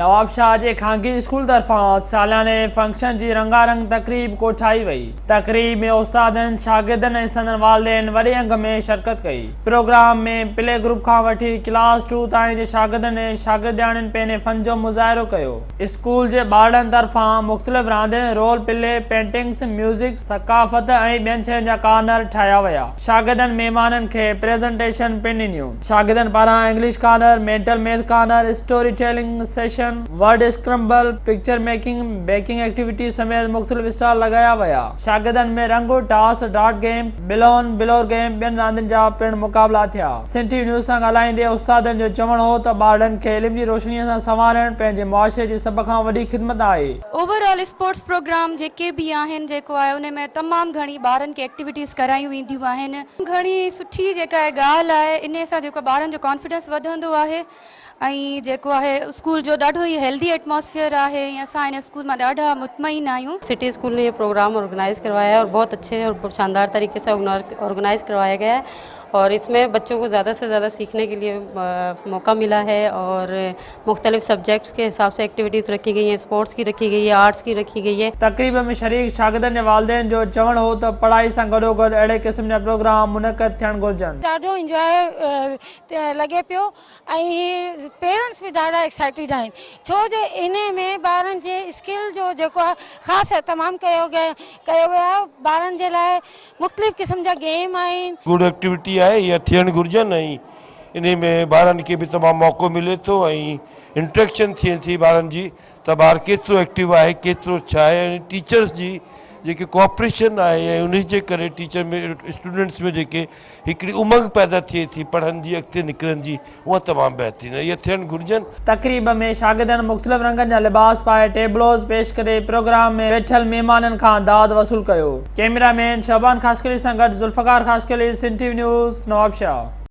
نوابشاهه جي خانگي اسڪول طرفان سالياني فنڪشن جي رنگا رنگ تقريب ڪوٺائي وئي. تقريب ۾ استادن، شاگردن ۽ سندن والدين وڏي انگ ۾ شرڪت ڪئي. پروگرام ۾ پلي گروپ کان وٺي ڪلاس ٽو تائين جي شاگردن ۽ شاگردياڻين پنهني فن جو مظاهرو ڪيو. اسڪول جي ٻارڙن طرفان مختلف راندين، رول پلي، پينٽنگس، ميوزڪ، ثقافت ۽ ٻين شين جا ڪارنر ٺاهيا ويا. شاگردن مهمانن کي پريزنٽيشن پڻ ڏنيون. شاگردن پاران English corner, mental math corner, story telling session, word scramble, picture making, baking activity سميت مختلف اسٽال لڳايا ويا. شاگردن ۾ ring, toss, dart game, balloon, blower game ٻين راندين جا پڻ مقابلا ٿيا. سنڌ ٽي وي نيوز سان ڳالهائيندي استادن جو چوڻ هو ته ٻارڙن کي علم جي روشنيء سان سنوارڻ پنهنجي معاشري جي سڀ کان وڏي خدمت آهي. اوور آل اسپورٽس پروگرام جيڪي به آهن جيڪو آهي ان ۾ تمام گهڻي ٻارن کي ايڪٽيوٽيز ڪرايون وينديون آهن. گهڻي سٺي جيڪا ڳالهه آهي انهي سان جيڪو ٻارن جو ڪانفيڊنس وڌندو آهي. ۽ جيڪو آهي اسڪول جو ڏاڍو ئي هيلڌي ايٽماسفيئر آهي ۽ اسان هن اسڪول مان ڏاڍا مطمئن آهيون. سٽي اسڪول ني هي پروگرام آرگنائز ڪروايا هي اور بهت اچھي اور بهت شاندار طريقي سي آرگنائز ڪروايا گيا هي اور اس مين بچو ڪو زياده سي زياده سيکني ڪي ليئي موقع ملا هي اور مختلف سبجيڪٽس ڪي حساب سي ايڪٽيويٽيز رکي گئي هين اسپورٽس ڪي رکي گئي هي آرٽس ڪي رکي گئي هي. تقريب ۾ شريڪ شاگردن جي والدين جو چوڻ هو ته پڙهائي سان گڏوگڏ اهڙي قسم جا پروگرام منعقد ٿيڻ گهرجن. ڏاڍو انجوائي لڳي پيو ۽ هي پيرنٽس به ڏاڍا ايڪسائيٽيڊ آهن ڇو جو انهي ۾ ٻارن جي اسڪل جو جيڪو آهي خاص اهتمام ڪيو ڪيو ويو آهي ٻارن جي لاء مختلف قسم جا گيم آهن. گڊ ايڪٽيوٽي آهي اها ٿيڻ گهرجن ۽ انهي ۾ ٻارن کي به تمام موقعو ملي ٿو ۽ انٽريڪشن ٿئي ٿي ٻارن جي ته ٻار ڪيترو ايڪٽو آهي ڪيترو ڇا آهي ۽ ٽيچرس جي جيڪي ڪوآپريشن آهي ۽ انهي جي ڪري ٽيچر ۾ اسٽوڊنٽس ۾ جيڪي هڪڙي امنگ پيدا ٿئي ٿي پڙهن جي اڳتي نڪرن جي اها تمام بهترين اهي ٿيڻ گهرجن. تقريب ۾ شاگردن مختلف رنگن جا لباس پائي ٽيبلوز پيش ڪري پروگرام ۾ ويٺل مهمانن کان داد وصول ڪيو. ڪئميرا مين شعبان خاصخيلي سان گڏ Zulfiqar Khaskheli, Sindh T V news, Nawabshah.